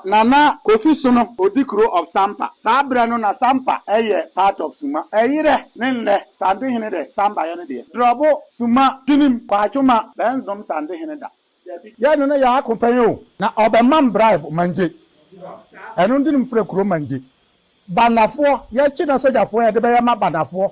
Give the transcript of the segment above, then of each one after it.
Nana Kofi Sono, Odikuro of Sampa. Saa berɛ no na Sampa yɛ part of Suma. Ɛyerɛ ne nnɛ Santehene dɛ Sampa yɛ ne deɛ. Drɔbo, Suma, Tinim, Kwaatwoma, bɛnzom Santehene da. Yɛ ne no yɛ ako pɛn o. Na ɔbɛmam bribe Mangye. Ɛno nti no mfrɛ kuro Mangye. Banafoɔ, yɛkye na sogyafoɔ yɛde bɛyɛ ma Banafoɔ.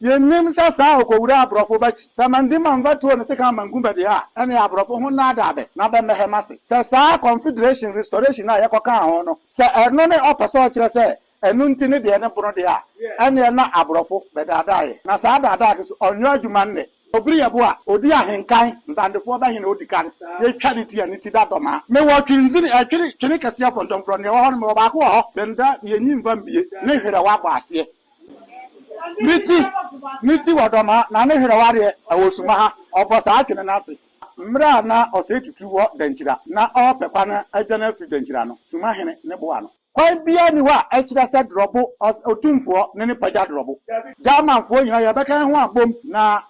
Yennim sɛ saa a okowuraa aborɔfo ba akyi, sɛ Mandi Manva tuo ne sekan bankum bɛde a, ɛne aborɔfo ho nnaadaa bɛ na bɛmmɛhɛ m'ase, sɛ saa Confederation restoration a yɛkɔkaa ho no, sɛ ɛno ne ɔpɛ sɛ ɔkyerɛ sɛ ɛno nti ne deɛ ne bono de a, ɛneɛ na aborɔfo bɛdaadaa yɛ. Na saa daadaa no so, ɔnyɔ adwuma nnɛ. Obiri yɛ bo a, odi ahenkan. Nsandefoɔ bɛhe na odi kan? Yetwa ne ti a, ne ti da dɔm a. Mewɔ twenzini, ɛtwene, twene kɛseɛ fɔntɔmfrɔ, neɛ ɛwɔ hɔ no, mewɔ baako wɔ hɔ. Bɛnda, ne ani mfa mbie, ne hwerɛ wabɔ aseɛ. Ne nti, ne nti wɔdɔ no na ne hwerɛ wareɛ wɔ suma ha. Ɔbɔ saa adwene no ase mmerɛ a na ɔsɛe tutu wɔ Dankyira na ɔrepɛ kwan adwane afiri Dankyira no, suma hene no boa no. Kwan biara nni hɔ a ɛkyerɛ sɛ Drɔbo Otumfoɔ ne no pagya Drɔbo. Germanfoɔ nyinaa yɛbɛka yɛn ho abom na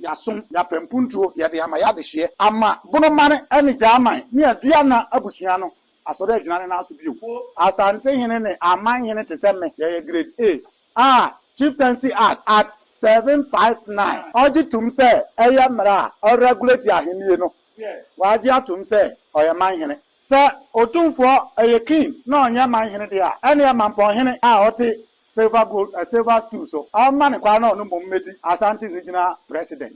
yɛasom, yɛapɛ mpuntuo, yɛde ama yɛadehyeɛ, ama Bonoman ne German ne Aduana abusua no Asɛ dɛ gyina ne nan so bio. Asantehene ne Amanhene te sɛ me, yɛyɛ Grade A a Chieftaincy Act, Art. 7 5 9, ɔgye tom sɛ ɛyɛ mmara a ɔregulate ahennie no. Wagye atom sɛ ɔyɛ manhene. Sɛ Otumfoɔ yɛ King na ɔnyɛ manhene deɛ a, ɛneɛ Mampɔnhene a ɔte silver gold eh silver stool so, ɔmma no kwan na ɔno mmom mmɛdi Asante Regional President.